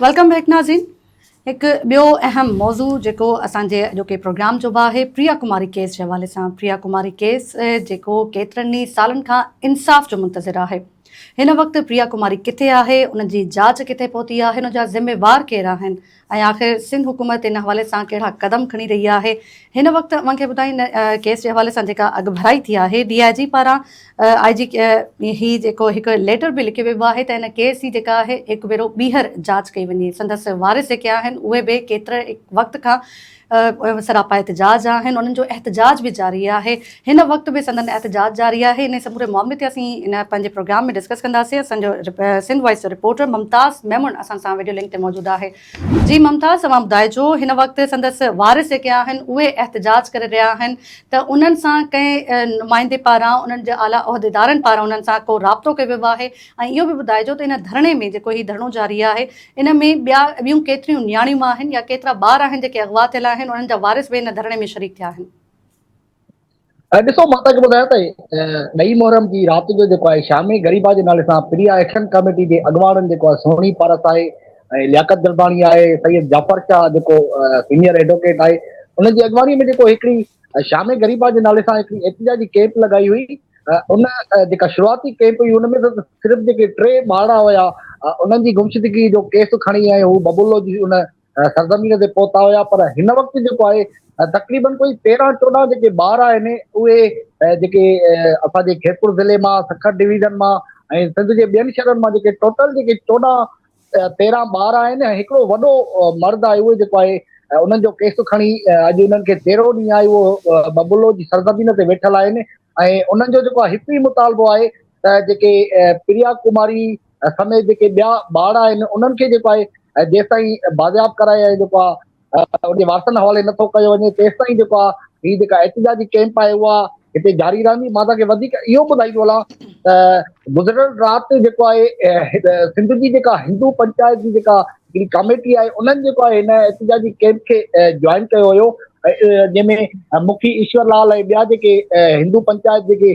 Welcome back ناظرين هڪ ٻيو اهم موضوع جيڪو اسان جي اڄوڪي پروگرام جو به آهي پريا ڪماري ڪيس جي حوالي سان پريا ڪماري ڪيس جيڪو ڪيترن ئي سالن کان انصاف جو منتظر آهي هن وقت پريا ڪماري ڪٿي آهي ان جي جاچ ڪٿي پهتي آهي ان جا ذميوار ڪير آهن ۽ آخر سنڌ حڪومت ان حوالي سان ڪهڙا قدم کڻي رهي آهي هن وقت اوهان کي ٻڌائين ڪيس جي حوالي سان جيڪا اڳڀرائي ٿي آهي ڊي آء جي پاران آء جي هي جيڪو هڪ ليٽر به لکي ويبو آهي ته هن ڪيس جي جيڪا آهي هڪ ڀيرو ٻيهر جاچ ڪئي وڃي سندس وارث جيڪي آهن اهي به ڪيتري وقت کان سراپا احتجاج آهن انهن جو احتجاج به جاري آهي هن وقت به سندن احتجاج جاري آهي انهي سموري معاملي تي اسين ان پنهنجي پروگرام ۾ ڊسڪس ڪنداسين اسان جو سنڌ وائس جو رپورٽر ممتاز ميمڻ اسان سان وڊيو لنڪ تي موجود آهي جي ممتاز اوهان ٻڌائجو هن وقت سندس وارث جيڪي آهن اهي احتجاج ڪري رهيا آهن ته انهن سان ڪنهن نمائندي پاران انهن جي اعليٰ عهديدارن پاران انهن سان ڪو رابطو ڪيو ويو آهي ۽ اهو به ٻڌائجو ته ان ڌرڻي ۾ جيڪو هي ڌرڻو جاري آهي ان ۾ ٻيا ٻيون ڪيتريون نياڻيون آهن يا ڪيترا ٻار آهن جيڪي اغوا ٿيل آهن انهن جا وارث به ان ڌرڻي ۾ شريڪ ٿيا آهن. ڏسو مان تهان کي ٻڌايان ته ڏهي محرم جي رات جو جيڪو آهي شامي غريبا جي نالي سان پريا ايڪشن ڪاميٽي جي اڳواڻن جيڪو آهي سهڻي پارس آهي ۽ لياقت جلباڻي آهي سيد جعفر شاهه جيڪو سينئر ايڊوڪيٽ آهي ان جي اڳواڻي ۾ جيڪو هڪڙي شامي غريبا جي نالي سان هڪڙي احتجاجي ڪيمپ لڳائي هئي ان جيڪا شروعاتي ڪيمپ هئي ان ۾ صرف جيڪي ٽي ٻارڙا هيا انهن جي گمشدگي جو ڪيس کڻي ۽ هو ببولو جي ان سرزمين تي پهتا هيا پر هن وقت جيڪو آهي تقريبن ڪوئي تيرهن چوڏهن جيڪي ٻار آهن اهي جيڪي اسان جي خيرپور ضلعي مان سکر ڊويزن مان ۽ سنڌ جي ٻين شهرن مان جيڪي ٽوٽل جيڪي چوڏهن تيرهن ٻار آهن ۽ هڪڙو وڏو مرد آهي اهو جيڪو آهي انهن جو ڪيس کڻي اڄ انهن کي تيرهو ڏينهن آهي اهو ببلو جي سرزمين تي ويٺل آهن ۽ انهن جو جيڪو هڪ ئي مطالبو آهي ته جيڪي پريا ڪماري سميت جيڪي ٻيا ٻار آهن انهن کي جيڪو آهي جيستائين بازياب ڪرائي ۽ جيڪو آهي ان جي وارثن حوالي نٿو ڪيو وڃي تيستائين جيڪو آهي هي جيڪا احتجاجي ڪيمپ آهي اها هتي جاري رهندي مان توهان کي اهو ٻڌائيندو هلان ته گذريل رات جيڪو آهي سنڌ جي جيڪا هندو پنچائت جي جيڪا هڪڙي ڪاميٽي آهي انهن جيڪو آهي هن احتجاجي ڪيمپ کي جوائن ڪيو هيو جنهن ۾ مکي ايشور لال ۽ ٻيا جيڪي هندو پنچائت جيڪي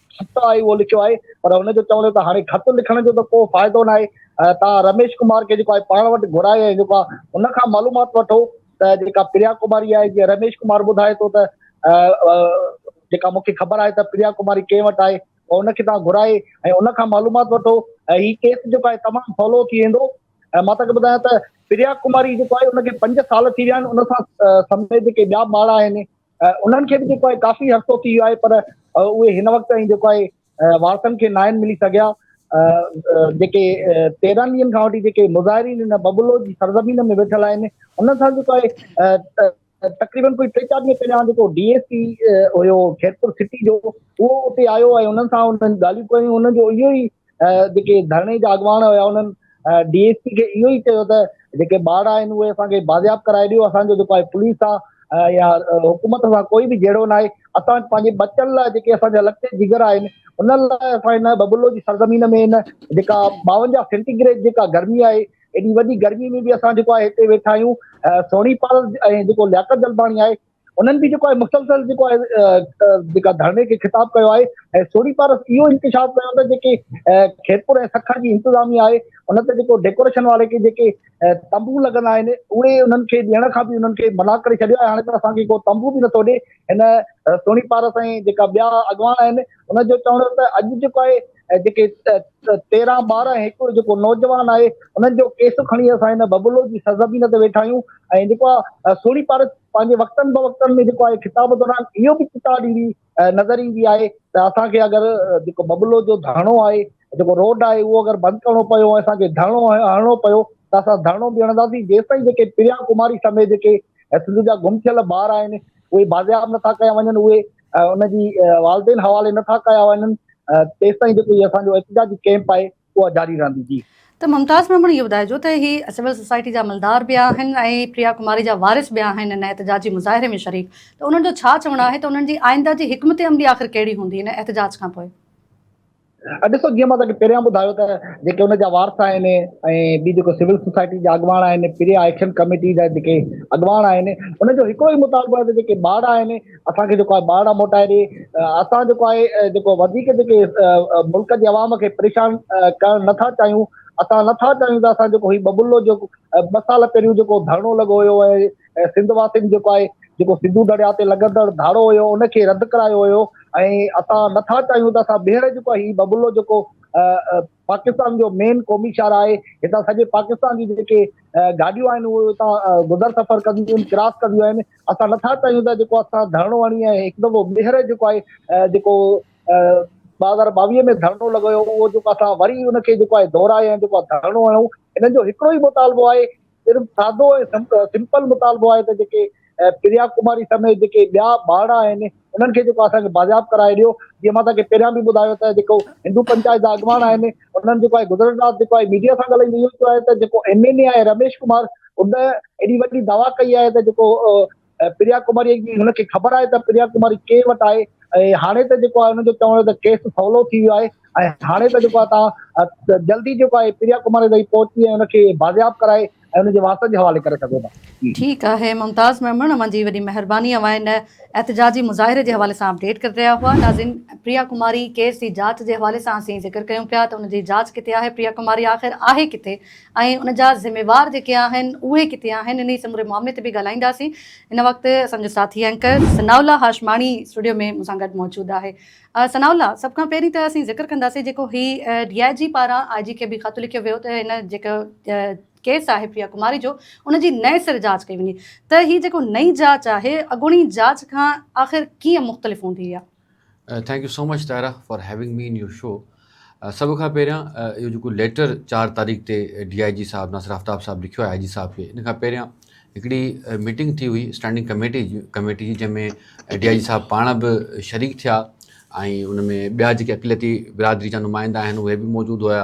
خط آهي اهو لکيو آهي پر هن جو چوڻ هو ته هاڻي خط لکڻ جو ته ڪو فائدو ناهي توهان رميش ڪمار کي جيڪو آهي پاڻ وٽ گهرائي ۽ جيڪو آهي ان کان معلومات وٺو ته جيڪا پريا ڪماري آهي جيئن رميش ڪمار ٻڌائي ٿو ته جيڪا مون کي خبر آهي ته پريا ڪماري ڪنهن وٽ آهي ان کي توهان گهرائي ۽ ان کان معلومات وٺو ۽ هي ڪيس جيڪو آهي تمام سولو ٿي ويندو ۽ مان توکي ٻڌايان ته پريا ڪماري جيڪو آهي ان کي پنج سال ٿي ويا آهن ان سان سميت جيڪي ٻيا ماڻا آهن انهن کي به جيڪو آهي ڪافي عرصو ٿي ويو آهي پر اهي هن وقت تائين جيڪو آهي وارثن کي ناهن ملي سگهيا جيڪي تيرهن ڏينهن کان وٺي جيڪي مظاهرين هن ببلو جي سرزمين ۾ ويٺل آهن انهن سان جيڪو آهي تقريبن ڪوئي ٽي چار ڏينهن پهريان جيڪو ڊي ايس پي هيو خيرپور سٽي جو اهو اتي آيو ۽ انهن سان انهن ڳالهيون ڪيون انهن جو اهو ئي جيڪي ڌرڻي جا اڳواڻ هيا انهن ڊي ايس پي کي اهو ئي چيو ته جيڪي ٻارڙا آهن اهي اسان کي بازياب ڪرائي ڏيو اسان جو جيڪو آهي پوليس آ يا حڪومت سان ڪوئي به جهيڙو ناهي اسان پنهنجي ٻچن لاء جيڪي اسان جا لکين جگر آهن انهن لاء اسان هن ببلو جي سرزمين ۾ هن جيڪا ٻاونجاهه سينٽيگريڊ جيڪا گرمي آهي ايڏي وڏي گرمي ۾ به اسان جيڪو آهي هتي ويٺا آهيون سوني پال ۽ جيڪو لياقت جلباڻي آهي انهن به جيڪو آهي مسلسل جيڪو آهي جيڪا ڌرڻي کي خطاب ڪيو آهي ۽ سوري پارس اهو انڪشاف ڪيو ته جيڪي خيرپور ۽ سکر جي انتظامي آهي ان تي جيڪو ڊيڪوريشن واري کي جيڪي تنبو لڳندا آهن اهي انهن کي ڏيڻ کان به انهن کي منع ڪري ڇڏيو آهي هاڻي ته اسان کي ڪو تنبو به نٿو ڏي هن سوري پارس ۽ جيڪا ٻيا اڳواڻ آهن ان جو چوڻ ته اڄ جيڪو آهي ۽ جيڪي تيرهن ٻارهن هڪڙو جيڪو نوجوان آهي انهن جو ڪيس کڻي اسان هن ببلو جي سرزمين تي ويٺا آهيون ۽ جيڪو آهي سهڻي پارت پنهنجي وقتن بوقتن ۾ جيڪو آهي خطاب دوران اهو به چتاء ڏيندي نظر ايندي آهي ته اسان کي اگر جيڪو ببلو جو ڌرڻو آهي جيڪو روڊ آهي اهو اگر بند ڪرڻو پيو ۽ اسان کي ڌرڻو هڻڻو پيو ته اسان ڌرڻو به هڻنداسين جيستائين جيڪي پريا ڪماري سميت جيڪي سنڌ جا گم ٿيل ٻار آهن اهي بازياب نٿا ڪيا وڃن اهي ان جي والدين حوالي نه ٿا ڪيا وڃن تيستائين جيڪو هي اسان جو احتجاجي ڪيمپ آهي اها جاري رهندي جي. ته ممتاز ميمڻ اهو ٻڌائجو ته هي سول سوسائٽي جا عملدار به آهن ۽ پريا ڪماري جا وارث به آهن ان احتجاجي مظاهري ۾ شريڪ ته انهن جو ڇا چوڻ آهي ته انهن جي آئنده جي حڪمت عملي آخر ڪهڙي هوندي ان احتجاج کانپوء؟ ڏسو جيئن مان توهان کي پهريان ٻڌايو ته جيڪي ان جا وارث آهن ۽ ٻي جيڪو سول سوسائٽي جا اڳواڻ آهن پري آئڪشن ڪميٽي جا جيڪي اڳواڻ آهن ان جو هڪڙو ئي مطالبو آهي ته جيڪي ٻارڙا آهن اسان کي جيڪو آهي ٻارڙا موٽائي ڏي اسان جيڪو آهي جيڪو وڌيڪ جيڪي ملڪ جي عوام کي پريشان ڪرڻ نٿا چاهيون اسان نٿا چاهيون ته اسان جيڪو هي ببلو جيڪو ٻه سال پهريون جيڪو ڌرڻو لڳو هيو ۽ سنڌ واسين جيڪو آهي جيڪو سنڌو درياء تي لڳندڙ ڌاڙو هيو ان کي رد ڪرايو هيو ۽ اسان نه ٿا چاهيون ته اسان ٻيهر جيڪو آهي هي ببلو جيڪو پاڪستان جو مين قومي شهر آهي هتان سڄي پاڪستان جي جيڪي گاڏيون آهن اهي هتان گذر سفر ڪنديون آهن ڪراس ڪنديون آهن اسان نٿا چاهيون ته جيڪو اسان ڌرڻو هڻي ۽ هڪ دفعو ٻيهر جيڪو آهي جيڪو ٻه هزار ٻاويهه ۾ ڌرڻو لڳو هيو اهو جيڪو اسان وري ان کي جيڪو آهي دهرائي ۽ جيڪو ڌرڻو هڻون ان جو هڪڙو ئي مطالبو آهي صرف سادو ۽ سمپل مطالبو آهي ته جيڪي پريا ڪماري سميت جيڪي ٻيا ٻارڙا آهن انهن کي جيڪو اسان کي بازياب ڪرائي ڏيو جيئن مان توهان کي پهريان به ٻڌايو ته جيڪو هندو پنچائت جا اڳواڻ آهن انهن جيڪو آهي گذريل رات جيڪو آهي ميڊيا سان ڳالهائيندي اهو چيو آهي ته جيڪو ايم اين اي آهي رميش ڪمار ان ايڏي وڏي دعويٰ ڪئي آهي ته جيڪو پريا ڪماريء جي هن کي خبر آهي ته پريا ڪماري ڪير وٽ آهي ۽ هاڻي ته جيڪو آهي هن جو چوڻ ته ڪيس سولو ٿي ويو آهي ۽ هاڻي ته جيڪو آهي تان جلدي جيڪو آهي پريا ڪماري تائين پهچي ۽ هن کي بازياب ڪرائي ۽ هن جي وارثن جي حوالي ڪري سگهو ٿا. ٺيڪ آهي ممتاز ميمڻ اوهان جي وڏي مهرباني اوهان هن احتجاجي مظاهري جي حوالي سان اپڊيٽ ڪري رهيا هئا ناظرين پريا ڪماري ڪيس جي جاچ جي حوالي سان اسين ذڪر ڪيون پيا ته ان جي جاچ ڪٿي آهي پريا ڪماري آخر آهي ڪٿي ۽ ان جا ذميوار جيڪي آهن اهي ڪٿي آهن انهي سموري معاملي تي به ڳالهائينداسين ان وقت اسان جو ساٿي اينڪر ثناء الله هاشماڻي اسٽوڊيو ۾ مون سان گڏ موجود آهي ثناء الله سڀ کان پهرين ته اسين ذڪر ڪنداسين جيڪو هي ڊي آء جي پاران آء جي کي به خط لکيو ويو ته هن جيڪو ڪيس آهي پريا ڪماري جو ان جي نئين سر جاچ ڪئي وڃي ته هي جيڪو نئين جاچ آهي اڳوڻي جاچ کان آخر ڪيئن مختلف هوندي اها thank you so much Tahira for having me in your show سڀ کان پهريان اهو جيڪو ليٽر چار تاريخ تي ڊي آء جي صاحب ناصر آفتاب صاحب لکيو آء جي صاحب کي ان کان پهريان هڪڙي ميٽنگ ٿي هئي اسٽينڊنگ ڪميٽي جي ڪميٽي جي جنهن ۾ ڊي آء جي صاحب پاڻ به شريڪ ٿيا ۽ ان ۾ ٻيا جيڪي اقليتي برادري جا نمائندا آهن اهي به موجود هيا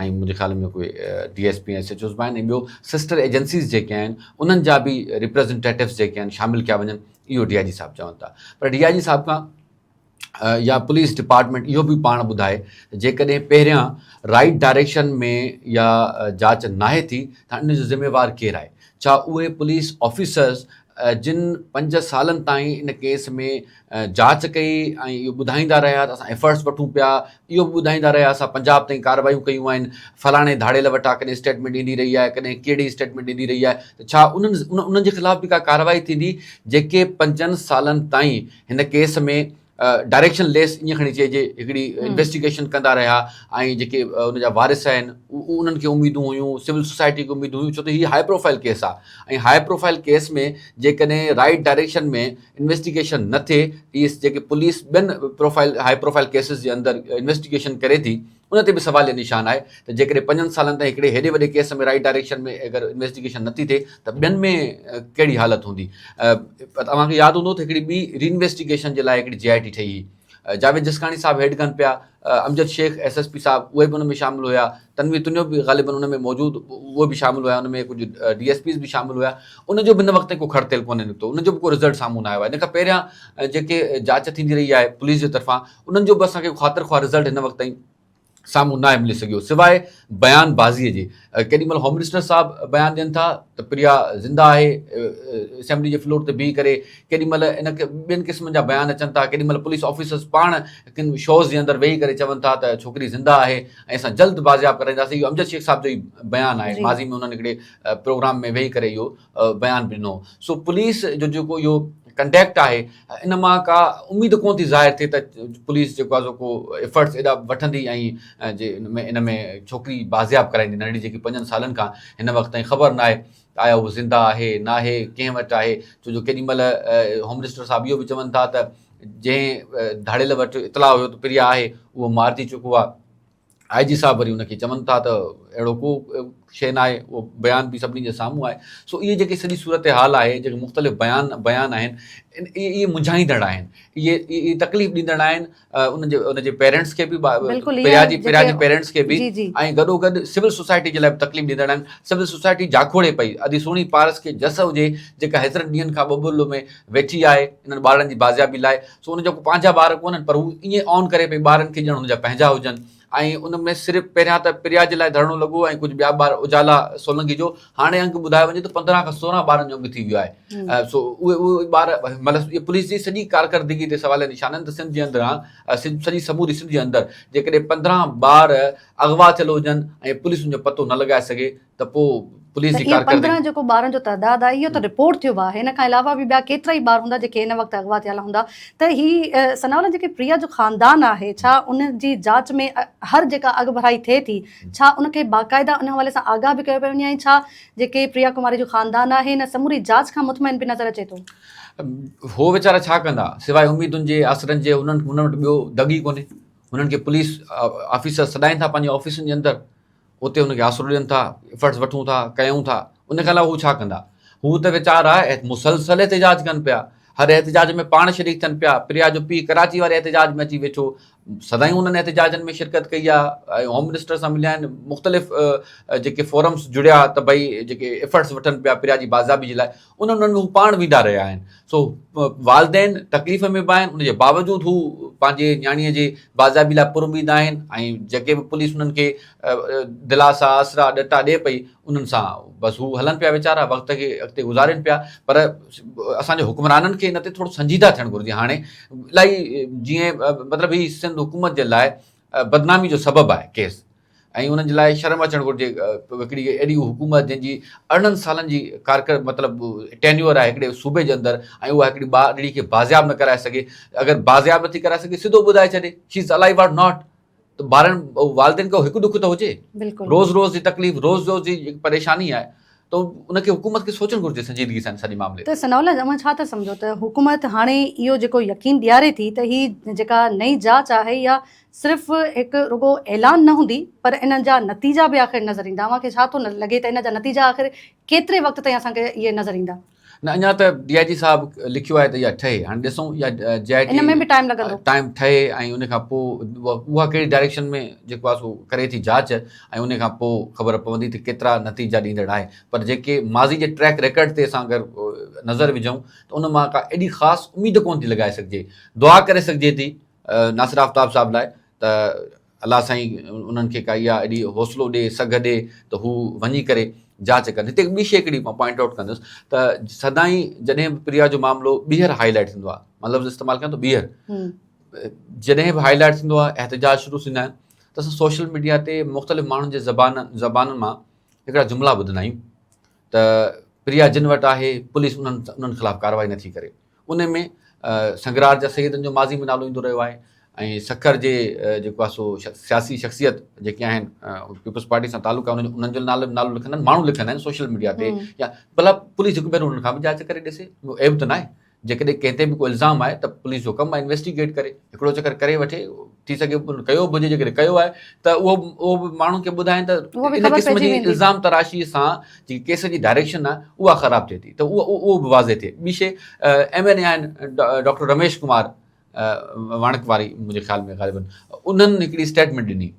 ۽ منهنجي خيال ۾ اهي D S P ۽ S H Os به آهن ۽ ٻيو سسٽر ايجنسيز جيڪي آهن انهن جا به ريپريزنٽيٽوز جيڪي آهن شامل ڪيا وڃن اهو ڊي آء جي صاحب چون ٿا پر ڊي آء جي صاحب کان يا پوليس ڊپارٽمينٽ اهو به پاڻ ٻڌائي ته جيڪڏهن پهريان رائيٽ ڊائريڪشن ۾ يا جاچ ناهي ٿي ته ان جو ذميوار ڪير آهي ڇا اهي پوليس آفيسرز جن پنج سالن تائين ان ڪيس ۾ جاچ ڪئي ۽ اهو ٻڌائيندا رهيا ته اسان ايفرٽس وٺون پيا اهو به ٻڌائيندا رهيا اسان پنجاب تائين ڪاروايون ڪيون آهن فلاڻي ڌاڙيل وٽان ڪڏهن اسٽيٽمينٽ ايندي رهي آهي ڪڏهن ڪهڙي اسٽيٽمينٽ ايندي رهي آهي ته ڇا انهن انهن جي خلاف به ڪا ڪارروائي ٿيندي جيڪي پنجن سالن تائين هن ڪيس ۾ ڊائريڪشن ليس ائين کڻي چئجي هڪڙي انويسٽيگيشن ڪندا رهيا ۽ جيڪي ان جا وارث آهن انهن کي اميدون هيون سول سوسائٽي کي اميدون هيون ڇو ته هي هاء پروفائل ڪيس آهي ۽ هاء پروفائل ڪيس ۾ جيڪڏهن رائٽ ڊائريڪشن ۾ انويسٽيگيشن نه ٿئي ته اهي جيڪي پوليس ٻين پروفائل هاء پروفائل ڪيسز جي اندر انويسٽيگيشن ڪري ٿي ان تي به سواليه نشان آهي ته جيڪڏهن پنجن سالن تائين هڪڙي هيڏي وڏي ڪيس ۾ رائٽ ڊائريڪشن ۾ اگر انويسٽيگيشن نه ٿي ٿئي ته ٻين ۾ ڪهڙي حالت هوندي اوهان کي ياد هوندو ته هڪڙي ٻي ري انويسٽيگيشن جي لاء هڪڙي جي آء ٽي ٺهي هئي جاويد جسڪاڻي صاحب هيڊ گن پيا، Amjad Shaikh S S P صاحب اهي به ان ۾ شامل هيا، تنوير تنيو به غالباً ان ۾ موجود اهو به شامل هيا، ان ۾ ڪجهه ڊي ايس پيز به شامل هيا، ان جو به هن وقت تائين ڪو کڙ تيل ڪونه نڪتو، ان جو به ڪو رزلٽ سامهون نه آيو آهي، ان کان پهريان جيڪي جاچ ٿيندي رهي آهي پوليس جي طرفان انهن جو به اسان کي خاطر خواهه رزلٽ هن وقت تائين سامهون ناهي ملي سگهيو سواء بيان بازيء جي ڪيڏي مهل هوم منسٽر صاحب بيان ڏين ٿا ته پريا زنده آهي اسيمبلي جي فلور تي بيهي ڪري ڪيڏي مهل ان ٻين قسمن جا بيان اچن ٿا ڪيڏي مهل پوليس آفيسرز پاڻ ڪن شوز جي اندر ويهي ڪري چون ٿا ته ڇوڪري زنده آهي ۽ اسان جلد بازياب ڪرائينداسين اهو امجد شيخ صاحب جو ئي بيان آهي ماضي ۾ انهن هڪڙي پروگرام ۾ ويهي ڪري اهو بيان ڏنو سو پوليس جو جيڪو اهو ڪنڊيڪٽ آهي ان مان ڪا اميد ڪون ٿي ظاهر ٿئي ته پوليس جيڪو آهي ڪو ايفرٽس ايڏا وٺندي ۽ جي ان ۾ ان ۾ ڇوڪري بازياب ڪرائيندي ننڍڙي جيڪي پنجن سالن کان هن وقت تائين خبر ناهي آيا هو زنده آهي ناهي ڪنهن وٽ آهي ڇو جو ڪيڏي مهل هوم منسٽر صاحب اهو به چون ٿا ته جنهن ڌاڙيل وٽ اطلاع هيو ته پريا آهي اهو مارجي چڪو آهي آء جي صاحب وري ان کي چون ٿا ته اهڙو ڪو شيء ناهي، اهو بيان به سڀني جي سامهون آهي. سو اهي جيڪي سڄي صورتحال آهي، جيڪي مختلف بيان بيان آهن، اهي منجهائيندڙ آهن، اهي تڪليف ڏيندڙ آهن ان جي ان جي پيرنٽس کي به، پريا جي پريا جي پيرنٽس کي به ۽ گڏو گڏ سول سوسائٽي جي لاء به تڪليف ڏيندڙ آهن. سول سوسائٽي جاکوڙي پئي، ادي سهڻي پارس کي جس هجي، جيڪا هيترن ڏينهن کان ٻٻل ۾ ويٺي آهي انهن ٻارڙن جي بازيابي لاء، سو ان جا ڪو پنهنجا ٻار ڪونهن پر هو ائين آن ڪري پئي ٻارن کي ڄڻ ان جا پنهنجا هجن ۽ ان ۾ صرف پهريان ته پريا جي لاء ڌرڻو لڳو ۽ ڪجهه ٻيا ٻار اجالا سولنگي جو هاڻي انگ ٻڌايو وڃي ته پندرهن کان سورهن ٻارن جو انگ ٿي ويو آهي سو اهي اهي ٻار مطلب پوليس جي سڄي ڪارڪردگي تي سوال نشان آهن ته سنڌ جي اندران سڄي سموري سنڌ جي اندر جيڪڏهن پندرهن ٻار اغوا ٿيل هجن ۽ پوليس ان جو پتو نه لڳائي سگهي ته پوء پوليس جي ڪارڪردگي. اهي پندرهن جيڪو ٻارن جو تعداد آهي اهو ته رپورٽ ٿيو آهي ان کان علاوه به ٻيا ڪيترائي ٻار هوندا جيڪي هن وقت اغوا ٿيل هوندا ته هي ثناء الله جيڪي پريا جو خاندان آهي ڇا ان جي جاچ ۾ هر جيڪا اڳڀرائي ٿئي ٿي ڇا ان کي باقاعده ان حوالي سان آگاهه به ڪيو پيو وڃي ۽ ڇا جيڪي پريا ڪماري جو خاندان آهي ان سموري جاچ کان مطمئن به نظر اچي ٿو. هو ويچارا ڇا ڪندا سواء اميدن جي آسرن جي انهن وٽ ٻيو دڳ ئي ڪونهي انهن کي پوليس آفيسر سڏائين ٿا پنهنجي آفيسن جي اندر اتي هن کي آسرو ڏين ٿا، ايفرٽس وٺون ٿا، ڪيون ٿا، ان کان علاوه هو ڇا ڪندا؟ هو ته ويچارا مسلسل احتجاج ڪن پيا، هر احتجاج ۾ پاڻ شريڪ ٿين پيا، پريا جو پيء ڪراچي واري احتجاج ۾ اچي ويٺو، سدائين انهن احتجاجن ۾ شرڪت ڪئي آهي ۽ هوم منسٽر سان مليا آهن، مختلف جيڪي فورمس جڙيا ته ڀئي جيڪي ايفرٽس وٺن پيا پريا جي بازيابي جي لاء، انهن انهن ڏانهن پاڻ ويندا رهيا آهن. سو والدين تڪليف ۾ به آهن ان جي باوجود هو پنهنجي نياڻيء جي بازيابي لاء پر اميد آهن ۽ جيڪي به پوليس انهن کي دلاسا، آسرا، ڏٽا ڏئي پئي انهن سان بس هو هلن پيا ويچارا وقت کي اڳتي گذارين پيا پر اسان جي حڪمرانن کي ان تي ٿورو سنجيده ٿيڻ گهرجي هاڻي الائي جيئن مطلب هي سنڌ حڪومت جي لاء بدنامي جو سبب آهي ڪيس. ۽ انهن جي لاء شرم اچڻ گهرجي هڪڙي اهڙي حڪومت جنهن جي ارڙهن سالن جي ڪارڪر مطلب ٽينيور آهي هڪڙي صوبي جي اندر ۽ اها هڪڙي ٻارڙي کي بازياب نه ڪرائي سگهي اگر بازياب نٿي ڪرائي سگهي سڌو ٻڌائي ڇڏي she is alive or not ته ٻارن والدين کي هڪ ڏک ته هجي روز روز جي تڪليف روز روز جي پريشاني آهي ته ان کي حڪومت کي سوچڻ گهرجي سنجيدگي سان سڄي معاملي ته ثناء الله اوهان ڇا ٿا سمجهو ته حڪومت هاڻي اهو جيڪو يقين ڏياري ٿي ته هي جيڪا نئين جاچ آهي يا صرف هڪ رڳو اعلان نه هوندي پر انهن جا نتيجا به آخر نظر ايندا اوهان کي ڇا ٿو لڳي ته ان جا نتيجا آخر ڪيتري وقت تائين اسان کي اهي نظر ايندا. نه اڃا ته ڊي آء جي صاحب لکيو آهي ته اها ٺهي هاڻي ڏسون اها جي آء ٽي ان ۾ به ٽائيم لڳندو. ٽائيم ٺهي ۽ ان کان پوء اها ڪهڙي ڊائريڪشن ۾ جيڪو آهي سو ڪري ٿي جاچ ۽ ان کان پوء خبر پوندي ته ڪيترا نتيجا ڏيندڙ آهي پر جيڪي ماضي جي ٽريڪ ريڪارڊ تي اسان اگر نظر وجهون ته ان مان ڪا ايڏي خاص اميد ڪونه ٿي لڳائي سگهجي دعا ڪري سگهجي ٿي ناصر آفتاب صاحب لاء ته الله سائين انهن کي ڪا اها ايڏي حوصلو ڏي سگهه ڏي ته هو وڃي ڪري جاچ ڪن هتي ٻي شي هڪڙي مان پوائنٽ آئوٽ ڪندس ته سدائين جڏهن به پريا جو معاملو ٻيهر هاء لائٽ ٿيندو آهي مان لفظ استعمال ڪيان ٿو ٻيهر جڏهن به هاء لائٽ ٿيندو آهي احتجاج شروع ٿيندا آهن ته اسان سوشل ميڊيا تي مختلف ماڻهن جي زبان زبانن مان هڪڙا جملا ٻڌندا آهيون ته پريا جن وٽ آهي پوليس انهن انهن خلاف ڪارروائي نٿي ڪري انهي ۾ سنگرار جا سيدن جو ماضي ۾ نالو ايندو رهيو آهي ۽ سکر جي جيڪو آهي سو سياسي شخصيت جيڪي آهن پيپلز پارٽي سان تعلق آهي انهن جو نالو نالو لکندا آهن ماڻهو لکندا آهن سوشل ميڊيا تي يا ڀلا پوليس هڪ ڀيرو انهن کان به جاچ ڪري ڏسي اهو عيب ته ناهي جيڪڏهن ڪنهن تي به ڪو الزام آهي ته پوليس جو ڪم آهي انويسٽيگيٽ ڪري هڪڙو چڪر ڪري وٺي ٿي سگهي ڪيو به هجي جيڪڏهن ڪيو آهي ته اهو اهو به ماڻهن کي ٻڌائين ته ان قسم جي الزام تراشي سان جي ڪيس جي ڊائريڪشن آهي اها خراب ٿئي ٿي ته اهو اهو به واضح ٿئي ٻي شيء ايم اين اي آهن ڊاڪٽر رميش ڪمار واڻڪ واري منهنجي خيال ۾ غالبن انهن هڪڙي اسٽيٽمينٽ ڏني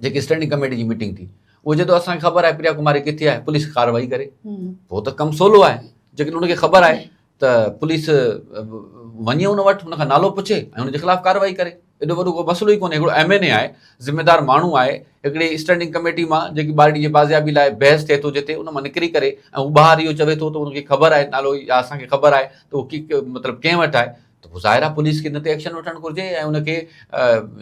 جيڪي اسٽينڊنگ ڪميٽي جي ميٽنگ ٿي اهو چئي ٿو اسانکي خبر آهي پريا ڪماري ڪٿي آهي پوليس ڪاروائي ڪري پوء ته ڪم سولو آهي جيڪڏهن ان کي خبر آهي ته پوليس وڃي ان وٽ ان کان نالو پڇي ۽ ان جي خلاف ڪاروائي ڪري ايڏو وڏو ڪو مسئلو ئي ڪونهي هڪڙو ايم اين اي آهي ذميدار ماڻهو آهي هڪڙي اسٽينڊنگ ڪميٽي مان جيڪي ٻارڙي جي بازيابي لاء بحث ٿئي ٿو جتي ان مان نڪري ڪري ۽ هو ٻاهر اهو چوي ٿو ته ان کي خبر آهي نالو يا اسانکي خبر آهي ته اهو مطلب ڪنهن وٽ آهي ته پوء ظاهر آهي پوليس کي ان تي ايڪشن وٺڻ گهرجي ۽ ان کي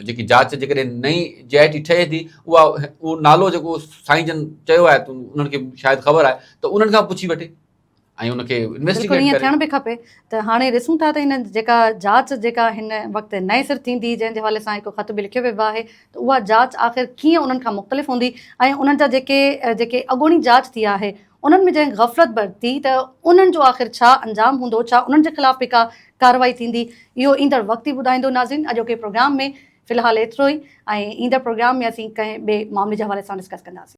جيڪي جاچ جيڪڏهن نئين جي آء ٽي ٺهي ٿي اها اهو نالو جيڪو سائين جن چيو آهي ته انهن کي شايد خبر آهي ته انهن کان پڇي وٺي ۽ ان کي انويسٽيگيٽ ڪري ٿيڻ به کپي ته هاڻي ڏسون ٿا ته هن جيڪا جاچ جيڪا هن وقت نئين سر ٿيندي جنهن جي حوالي سان هڪ خط به لکيو ويو آهي ته اها جاچ آخر ڪيئن انهن کان مختلف هوندي ۽ انهن جا جيڪي جيڪي اڳوڻي جاچ ٿي آهي انهن ۾ جنهن غفلت برتي ته انهن جو آخر ڇا انجام هوندو، ڇا انهن جي خلاف به ڪا ڪارروائي ٿيندي، اهو ايندڙ وقت ئي ٻڌائيندو ناظرين اڄوڪي پروگرام ۾ في الحال ايترو ئي ۽ ايندڙ پروگرام ۾ اسين ڪنهن ٻئي معاملي جي حوالي سان ڊسڪس ڪنداسين.